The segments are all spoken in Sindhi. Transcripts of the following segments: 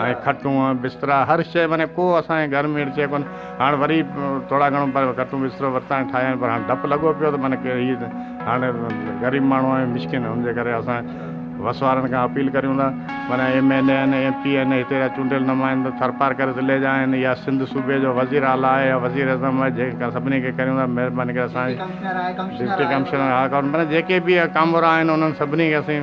۽ کٽون بسترا هر شيء معني ڪو اسان جي گهر ۾ اهڙي شيء ڪونه هاڻ وري ٿورا گهڻو پر کٽون بسترو ورتائين ٺاهيائين پر هاڻ ڊپ لڳو پيو ته معني ڪير هي ته هاڻ غريب ماڻهو آهيون مسڪين ان جي ڪري اسان وس وارن کان اپيل ڪريون ٿا معني ايم اين اي آهن ايم پي آهن هتي جا چونڊيل نمائندا ٿرپارڪر ضلعي جا آهن يا سنڌ صوبي جو وزير اعليٰ آهي يا وزير اعظم آهي جنهن کان سڀني کي ڪريون ٿا مهرباني ڪري اسان جي ڊپٽي ڪمشنر آهي ڪمشنر آهي معني جيڪي به ڪامورا آهن انهن سڀني کي اسين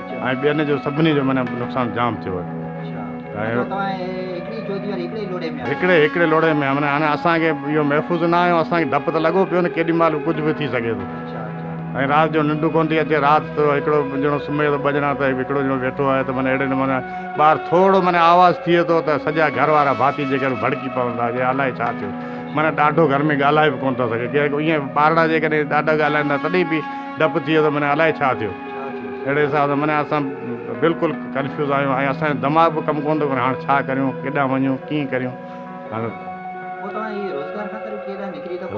۽ ٻين جو سڀني جو معنيٰ نقصان جام ٿيو آهي اچھا توهان هڪڙي جوتي واري هڪڙي لوڙهي ۾ آهيو هڪڙي هڪڙي لوڙهي ۾ معنيٰ هاڻي اسان کي اهو محفوظ نه آهيو اسان کي ڊپ ته لڳو پيو نه ڪيڏي مهل ڪجهه به ٿي سگهي ٿو اچھا اچھا ۽ رات جو ننڊ ڪونه ٿي اچي رات ته هڪڙو ڄڻو سمهي ٿو ٻه ڄڻا ته هڪڙو ڄڻو ويٺو آهي ته معنيٰ اهڙي نموني ٻاهر ٿورڙو معنيٰ آواز ٿئي ٿو ته سڄا گهر وارا ڀاتي جيڪي آهن ڀڙڪي پون ٿا جي الائي ڇا ٿيو معنيٰ ڏاڍو گهر ۾ ڳالهائي به ڪونه ٿا سگهي ڪير ائين ٻارڙا جيڪڏهن ڏاڍا ڳالهائين ٿا تڏهن به ڊپ ٿئي ٿو معنيٰ الائي ڇا ٿيو اهڙي حساب سان معنيٰ اسان بلڪل ڪنفيوز آهيون ۽ اسان جو دماغ به ڪم ڪونه ٿو ڪري هاڻ ڇا ڪريون ڪيڏانهن وڃون ڪيئن ڪريون هاڻ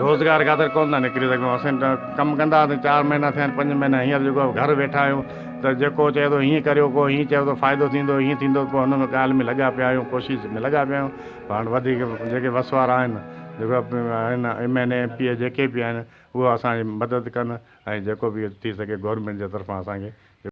روزگار خاطر ڪونه ٿا نڪري سگهون اسين ڪم ڪندا هئاسين چار مهينا ٿيا آهن پنج مهينا هينئر جيڪو گهر ويٺا آهيون ته جيڪو چئي ٿو هيئن ڪريو ڪو هيئن چئي ٿو فائدو ٿيندو هيئن ٿيندو پوء هن ڳالهه ۾ لڳا پيا آهيون ڪوشش ۾ لڳا پيا آهيون هاڻ وڌيڪ جيڪي وس وارا آهن جيڪو آهن M N A M P A جيڪي به آهن اهي اسان جي مدد ڪن ۽ جيڪو به ٿي سگهي گورنمينٽ جي طرفان اسان کي